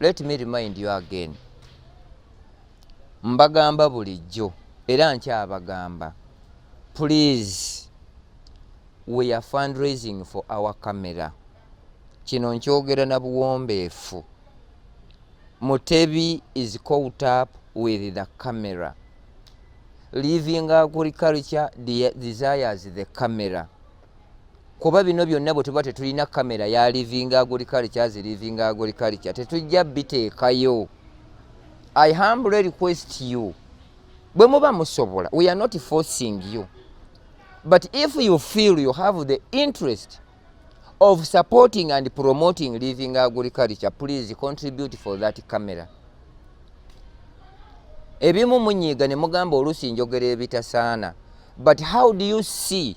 let me remind you again mbagamba bulijjo era nkyabagamba please we are fundraising for our camera kino nkyogera na buwombeefu mutebi is caught up with the camera living agriculture desires the camera kuba bino byonna bwe tuba tetulina kamera ya living agriculture as living agriculture tetujja biteekayo i humbly request you bwe muba musobola we are not forcing you but if you feel you have the interest of supporting and promoting living agriculture please contribute for that camera ebimu munyiiga ne mugamba oluusi njogera ebitasaana but how do you see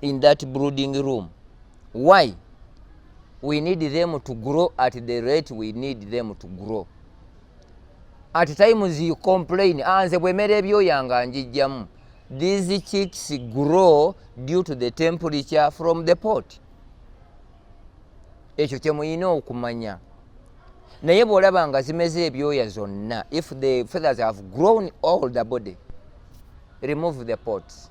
in that brooding room why we need them to grow at the rate we need them to grow at times you complain ah, nze bwemera ebyoya nga njijjamu these chicks grow due to the temperature from the pot ekyo kyemuyina okumanya naye bwolaba nga zimeze ebyoya zonna if the feathers have grown all the body remove the pots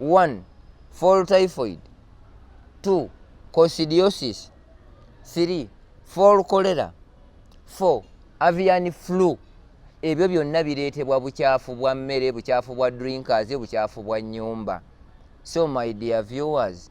1 fall typhoid 2 cosidiosis 3 fall cholera 4 avian flu ebyo byonna bireetebwa bukyafu bwa mmere bukyafu bwa drinkers bukyafu bwa nyumba so my dear viewers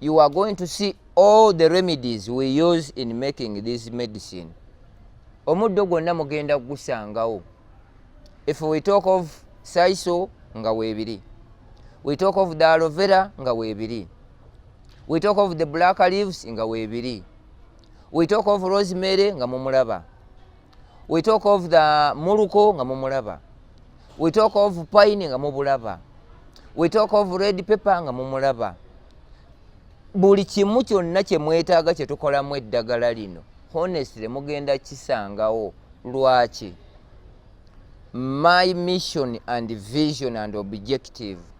you are going to see all the remedies we use in making this medicine omuddo gwonna mugenda gusangawo if we talk of saiso nga webiri we talk of the alovera nga webiri we talk of the black leaves nga webiri we talk of rosemary nga mumulaba we talk of the muluko nga mumulaba we talk of pine nga mubulaba we talk of red paper nga mumulaba buli kimu kyonna kye mwetaaga kye tukolamu eddagala lino honestly mugenda kisangawo lwaki my mission and vision and objective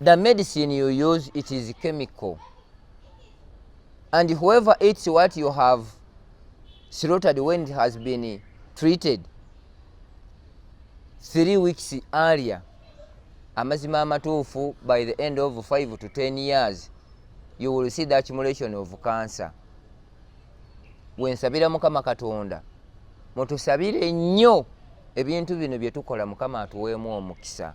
The medicine you use, it is chemical. And whoever eats what you have slaughtered when it has been treated three weeks earlier, amazima amatuufu by the end of five to ten years, you will see the accumulation of cancer. Wensabira Mukama Katonda, mutusabire nnyo ebintu bino bye tukola Mukama atuweemu omukisa.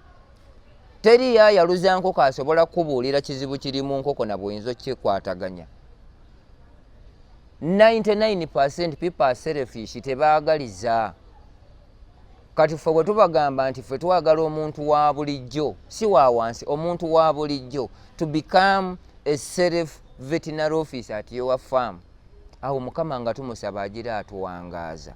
teri yayaluza nkoko asobola kukubuulira kizibu kiri mu nkoko na bweyinza okikwataganya 99 people are selfish tebaagaliza kati ffe bwe tubagamba nti ffe twagala omuntu wa bulijjo si wa wansi omuntu wa bulijjo to become a self veterinary office at your farm awo mukama nga tumusaba agira atuwangaaza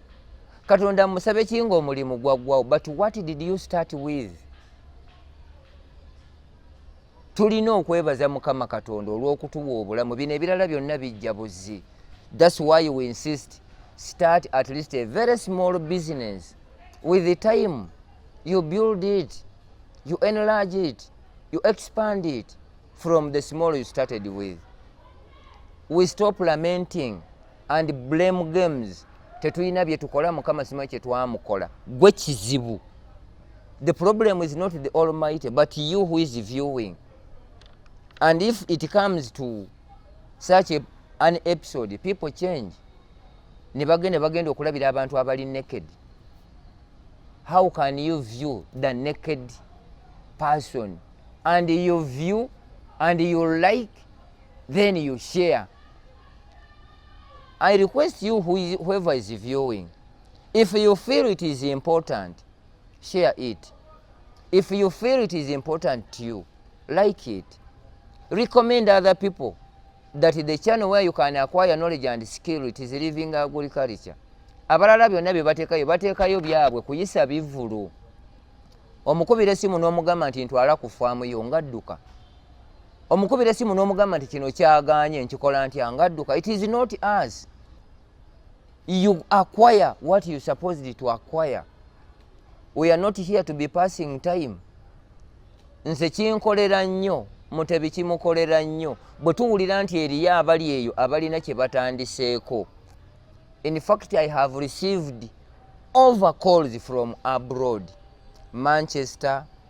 katonda musabe kinga omulimu gwaggwawo but what did you start with tulina okwebaza mukama katonda olw'okutuwa obulamu bino ebirala byonna bijja buzzi thats why we insist start at least a very small business with the time you build it you enlarge it you expand it from the small you started with we stop lamenting and blame games tetulina byetukola mukama sima kyetwamukola gwe kizibu the problem is not the almighty but you who is viewing and if it comes to such a, an episode people change nebagenda bagenda okulabira abantu abali naked how can you view the naked person and you view and you like then you share I request you who is, whoever is viewing, if you feel it is important, share it. If you feel it is important to you, like it. Recommend other people that the channel where you can acquire knowledge and skill, it is living agriculture. Abalala byonna bye bateekayo bateekayo byabwe kuyisa bivulu. Omukubira essimu n'omugamba nti ntwala ku faamu yo nga dduka. omukubira esimu n'omugamba nti kino kyaganye nkikola ntya nga adduka it is not as you acquire what you supposed to acquire we are not here to be passing time nze kinkolera nnyo mutebi kimukolera nnyo bwe tuwulira nti eriyo abali eyo abalina kye batandiseeko in fact i have received over calls from abroad manchester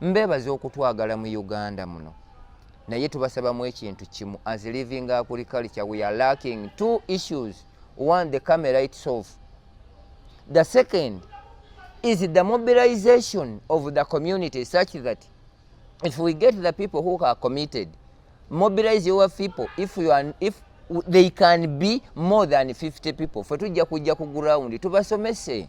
mbebaza okutwagala mu uganda muno naye tubasabamu ekintu kimu as living agriculture we are lacking two issues one the camera itself the second is the mobilization of the community such that if we get the people who are committed mobilize your people if you are if they can be more than 50 people fe tujja kujja ku ground tubasomese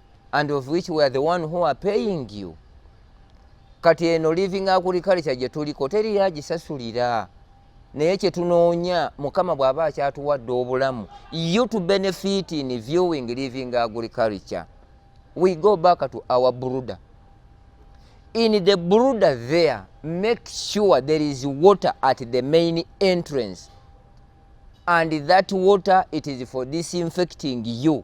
and of which we are the one who are paying you kati eno living agriculture gye tuliko teri yagisasulira naye kye tunoonya mukama bw'aba akyatuwadde obulamu you to benefit in viewing living agriculture we go back to our bruder in the bruder there make sure there is water at the main entrance and that water it is for disinfecting you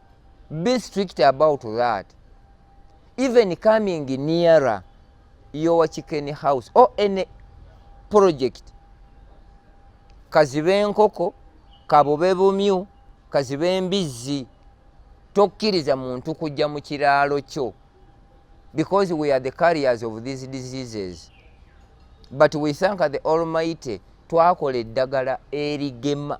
be strict about that even coming nearer your chicken house or any project kazibe enkoko kabube bumyu kazibe embizzi tokkiriza muntu kujja mu kiraalo kyo because we are the carriers of these diseases but we thank the almighty twakola eddagala erigema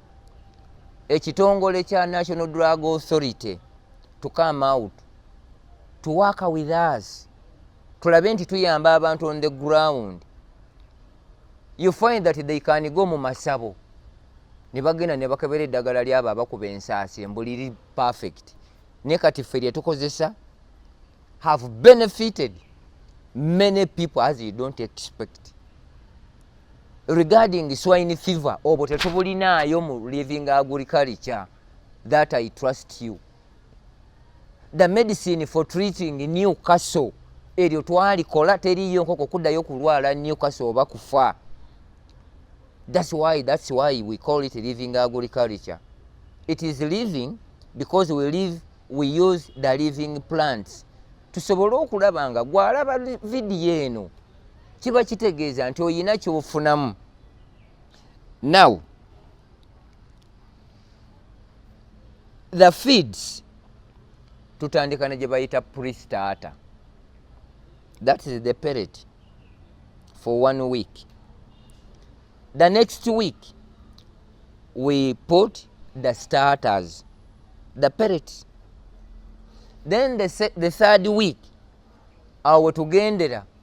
ekitongole kya national drug authority to come out to work with us tulabe nti tuyamba abantu on the ground you find that they can go mu masabo ne bagenda ne bakebera eddagala lyabo abakuba ensaasi embuliri perfect ne kati ffe lye tukozesa have benefited many people as you don't expect regarding swine fever obwo tetubulinaayo mu living agriculture that i trust you the medicine for treating new castle eryo twalikola teriyo nkoko kuddayo kulwala new castle oba kufa that's why, that's why we call it living agriculture it is living because we live we use the living plants tusobole okulaba nga gwalaba vidiyo eno kiba kitegeeza nti oyina kyofunamu now the feeds tutandika ne gyebayita pristata that is the perit for one week the next week we put the starters the perit then the, the third week awo tugendera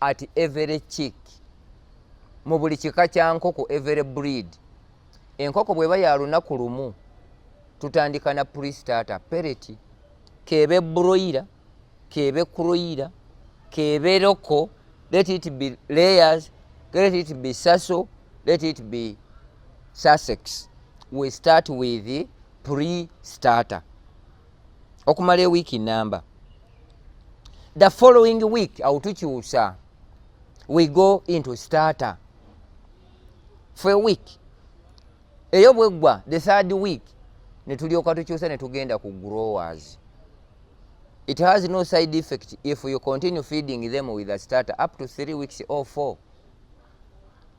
at every chick mu buli kika kya nkoko every breed enkoko bweba ya lunaku lumu tutandika na prestata pereti kebe broira kebe kroira kebe loko let it be layers let it be saso let it be sussex we start with prestata okumala ewiiki namba the following week awo tukyusa we go into starter for a week eyo bweggwa the third week netulyoka tukyusa netugenda ku growers it has no side effect if you continue feeding them with a starter up to three weeks or four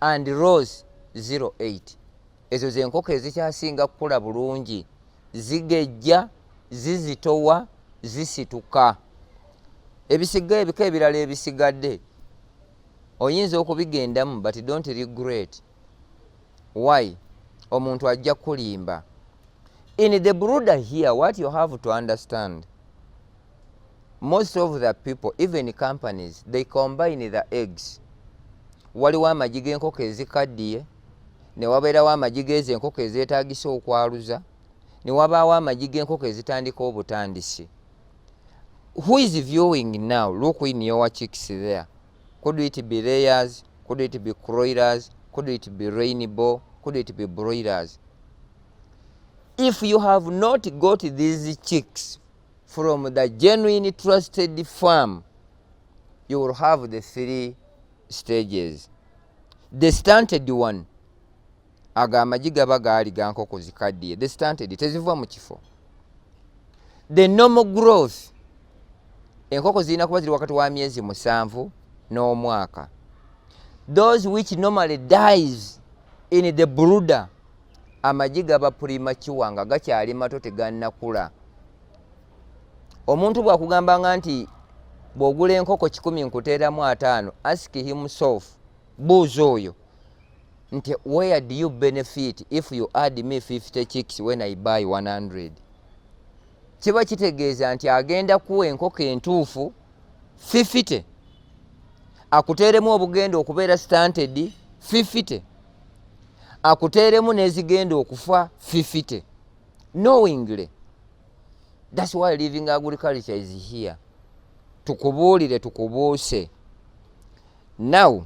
and rose 08 ezo zenkoko ezikyasinga kukula bulungi zigejja zizitowa zisituka ebisiga ebika ebirala ebisigadde oyinza okubigendamu but don't regret why omuntu ajja kulimba in the bruder here what you have to understand most of the people even companies they combine the eggs waliwo amagi g'enkoko ezikaddiye newabeerawo amagi geezo enkoko ezeetagisa okwaluza newabaawo amagi g'enkoko ezitandika obutandisi who is viewing now look in your chicks there could it be layers could it be croilers could it be rainbow could it be broilers if you have not got these chicks from the genuine trusted farm you will have the three stages the stunted one ago amagi gaba gaali gankoko zikaddiye the stunted teziva mu kifo the normal growth enkoko zirina kuba ziri wakati wa myezi musanvu n'omwaka those which normally dies in the brooder amagi gaba purimakiwa nga gakyali mato tegannakula omuntu bwakugambanga nti bwogula enkoko kikumi nkuteeramu ataano ask himself buuza oyo nti where do you benefit if you add me 50 chicks when i buy 100 kiba kitegeeza nti agenda kuwa enkoko entuufu 50 akuteeremu obugenda okubeera stanted 50 akuteeremu nezigenda okufa fifite knowingly thats why living agriculture is here tukubuulire tukubuuse now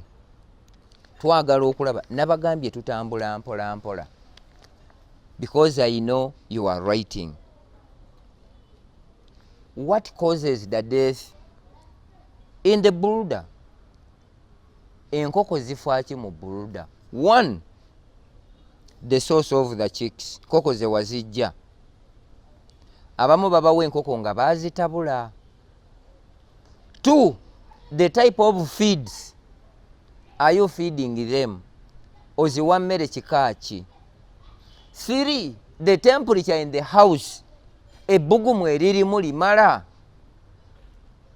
twagala okulaba nabagambye tutambula mpola mpola because i know you are writing what causes the death in the border enkoko zifaaki mu buluda one the source of the chicks nkoko zewazijja abamu babawa enkoko nga bazitabula two the type of feeds are you feeding them oziwa mmere kika ki three the temperature in the house ebbugumu eririmu limala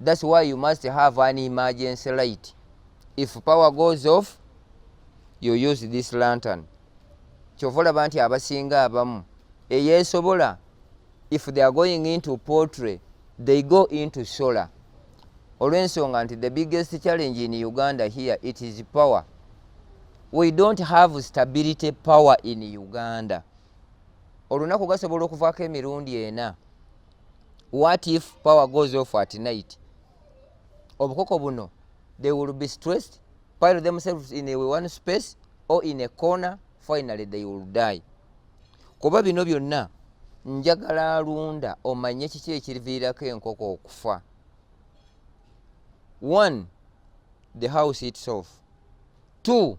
That's why you must have an emergency light. If power goes off, you use this lantern. Kyova olaba nti abasinga abamu eyeesobola if they are going into poultry they go into solar olw'ensonga nti the biggest challenge in Uganda here it is power. We don't have stability power in Uganda. Olunaku gasobola okuvaako emirundi ena. what if power goes off at night obukoko buno they will be stressed pile themselves in a one space or in a corner finally they will die kuba bino byonna njagala alunda omanye kiki ekiriviirako enkoko okufa one the house itself two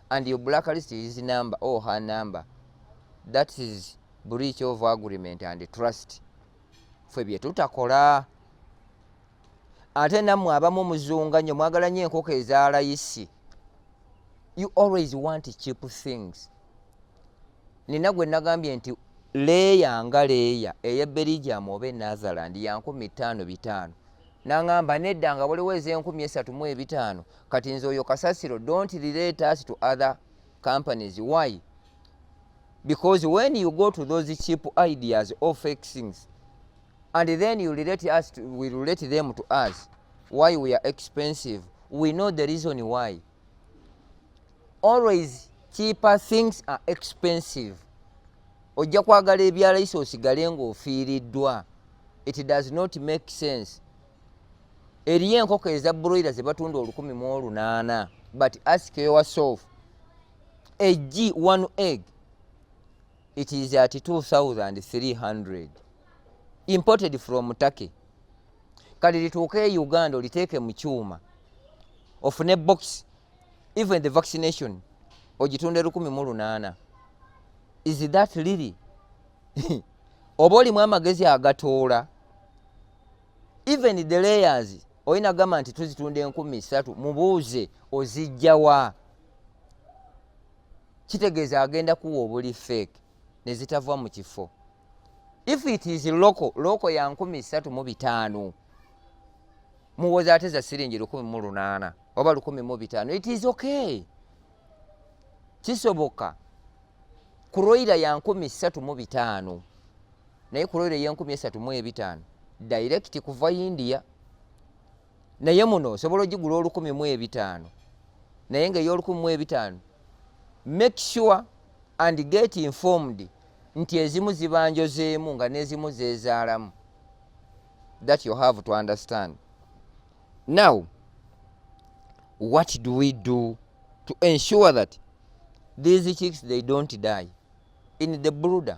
and your black list is number or oh, her number that is breach of agreement and trust ffe bye tutakola ate nammwe abamu muzunga nnyo mwagala nnyo enkoko ezalayisi you always want cheap things nina gwe nagambye nti leeya nga leeya ey'eberigiamu oba enatherland yankumi ttaano bitaano nangamba nedda nga waliwo ezenkumi esatu mu ebitaano kati nze oyo kasasiro don't relate us to other companies why because when you go to those cheap ideas or fake things and then you relate us to, we relate them to us why we are expensive we know the reason why always cheaper things are expensive ojja kwagala ebyalayisa osigale ng'ofiiriddwa it does not make sense eriyo enkoko eza broira zebatunda olukumi mu olunaana but ask yourself eg one egg it is at 2300 imported from turkey kale lituuke e uganda oliteeke mu kyuma ofune box even the vaccination ogitunde lukumi mu lunaana is that lili oba olimu amagezi agatoola even the layers olina gamba nti tuzitunda enkumi satu mubuuze ozijjawa kitegeeza agenda kuwa obuli feeke nezitava mu kifo if it is local local ya nkumi satu mu bitaano muwoza ate za siringi lukumi mu lunaana oba lukumi mu bitaano it is okay kisoboka kuroira ya nkumi satu mu bitaano naye kuroira ya nkumi esatu mu ebitaano direct kuva india naye muno osobola ogigula olukumi mu ebitaano naye nga ey'olukumi mu ebitaano make sure and get informed nti ezimu zibanjozeemu nga n'ezimu zeezaalamu that you have to understand now what do we do to ensure that these chicks they don't die in the brooder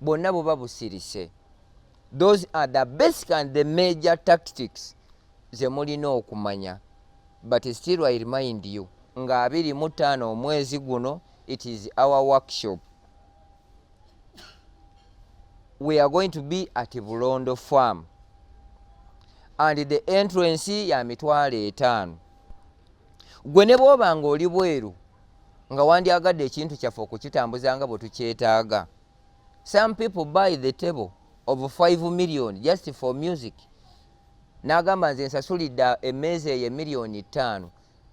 bwonna buba busirise those are the basic and the major tactics zemulina okumanya but still i remind you nga abiri mu ttaano omwezi guno it is our workshop we are going to be at bulondo farm and the entrance ya mitwalo etaano gwe ne bwoba nga oli bweru nga wandyagadde ekintu kyaffe okukitambuza nga bwe tukyetaaga some people buy the table of 5 million just for music n'agamba nze nsasulidde emmeeza eyo emiliyoni ttaano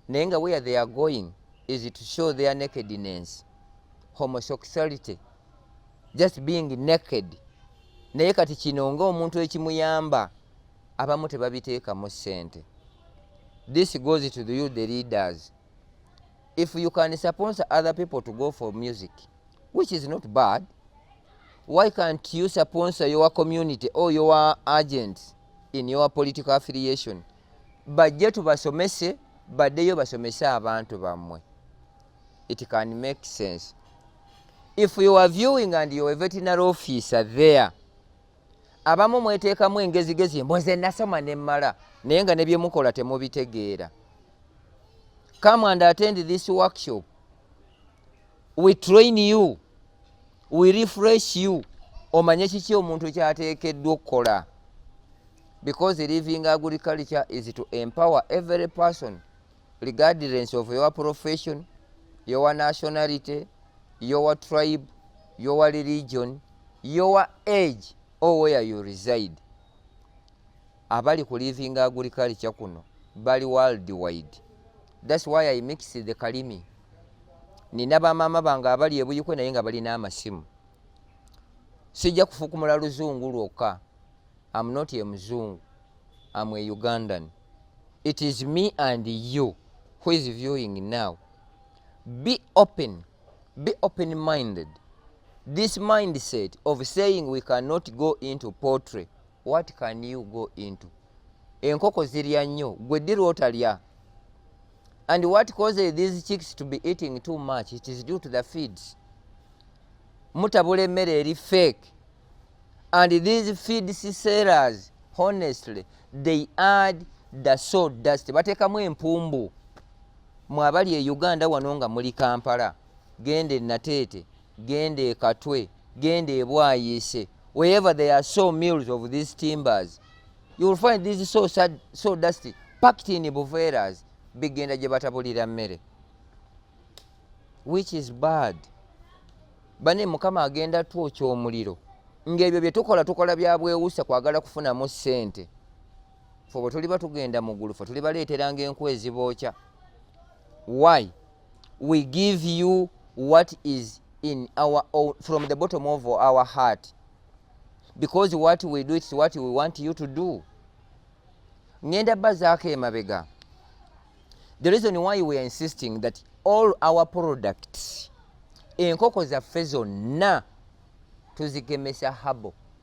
naye nga where they are going is to show their nakedness homosexuality just being naked naye kati kino nga omuntu ekimuyamba abamu tebabiteekamu ssente this goes to the, you the leaders if you can sponsor other people to go for music which is not bad why can't you sponsor your community or your agents in your political affiliation bajje tubasomese baddeyo basomese abantu bammwe it can make sense if you are viewing and you are a veterinary officer there abamu mweteekamu engezigezi mboze nasoma nemmala naye nga nebyemukola temubitegeera come and attend this workshop we train you we refresh you omanye kiki omuntu kyateekeddwa okukola because living agriculture is to empower every person regardless of your profession your nationality your tribe your religion your age or where you reside abali ku livinga agriculture kuno bali world wide thats why i mix the kalimi nina bamaama bange abali ebuyikwe naye nga balina amasimu sijja kufukumula luzungu lwokka am not a muzungu am a ugandan it is me and you who is viewing now be open be open minded this mindset of saying we cannot go into potry what can you go into enkoko zirya nnyo gwe ddi lwotalya and what causes these chicks to be eating too much it is due to the feeds mutabula emmere eri fake and these feed sellers honestly they add the so dust bateekamu empumbu mwabali e uganda wano nga muli kampala genda enateete genda ekatwe genda ebwayiise wherever there are so mills of these timbers you will find these so, sad, so dusty packed in buveras bigenda gye batabulira mmere which is bad bane mukama agenda twokya omuliro ng'ebyo bye tukola tukola bya bwewusa kwagala kufunamu ssente fe bwe tuliba tugenda mu ggulu fe tulibaleeteranga enku ezibookya why we give you what is in our own, from the bottom of our heart because what we do it's what we want you to do ngenda bazaako emabega the reason why we are insisting that all our products enkoko zaffe zonna tuzigemesa habo